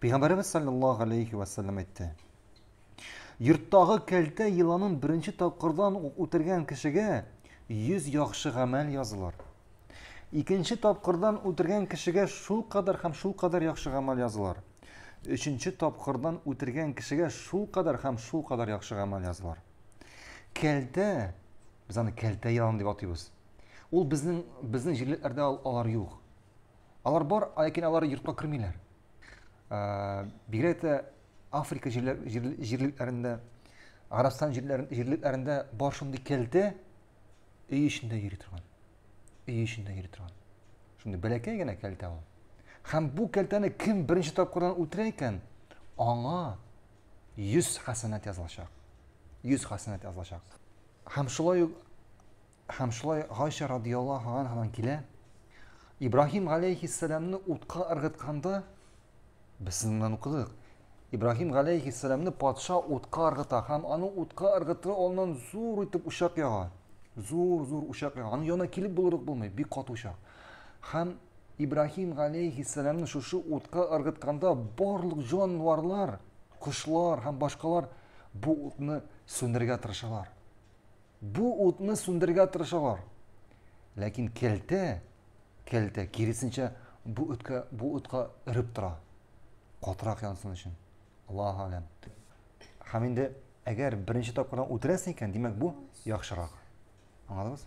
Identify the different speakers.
Speaker 1: Пәйгамбәребез саллаллаһу алейхи ва саллям әйтте. Йорттагы кәлтә еланын беренче тапкырдан ук үтергән кешегә 100 яхшы гамәл язылыр. Икенче тапкырдан үтергән кешегә шул кадәр һәм шул кадәр яхшы гамәл язылыр. Өченче тапкырдан үтергән кешегә шул кадәр һәм шул кадәр яхшы гамәл язылыр. Кәлтә, без аны кәлтә елан дип атыйбыз. Ул безнең безнең җирләрдә алар юк. Алар бар, ләкин алар йортка кермиләр. Э, бигрәк тә Африка җирлекләрендә, Гарәбстан җирлекләрендә бар шундый кәлтә өй эчендә йөри торган. Өй эчендә йөри торган. Шундый бәләкәй генә кәлтә ул. Һәм бу кәлтәне кем беренче тапкырдан үтерә икән, аңа 100 хәсәнәт язылачак. 100 хәсәнәт язылачак. Һәм шулай ук Һәм шулай Гайшә радиаллаһу анһадан килә, Ибраһим галәйһиссәламне утка ыргытканда, без сезнен укыдык, Ибраһим галәйһиссәламне патша утка ыргыта һәм аның утка ыргытыр алыннан зур итеп учак яга. Зур-зур учак яга. Аның янына килеп булырык булмый, бик каты учак. Һәм Ибраһим галәйһиссәламне шушы утка ыргытканда барлык җанварлар, кошлар һәм башкалар бу утны сүндерергә тырышалар. Бу утны сүндергә тырышалар. Ләкин келтә, келтә киресенчә бу үткә, бу утка өреп тора. Катырак янсын өчен. Аллаһ алям. Һәм инде әгәр беренче тапкырдан үтерәсең икән, димәк бу яхшырак. Аңладыгыз?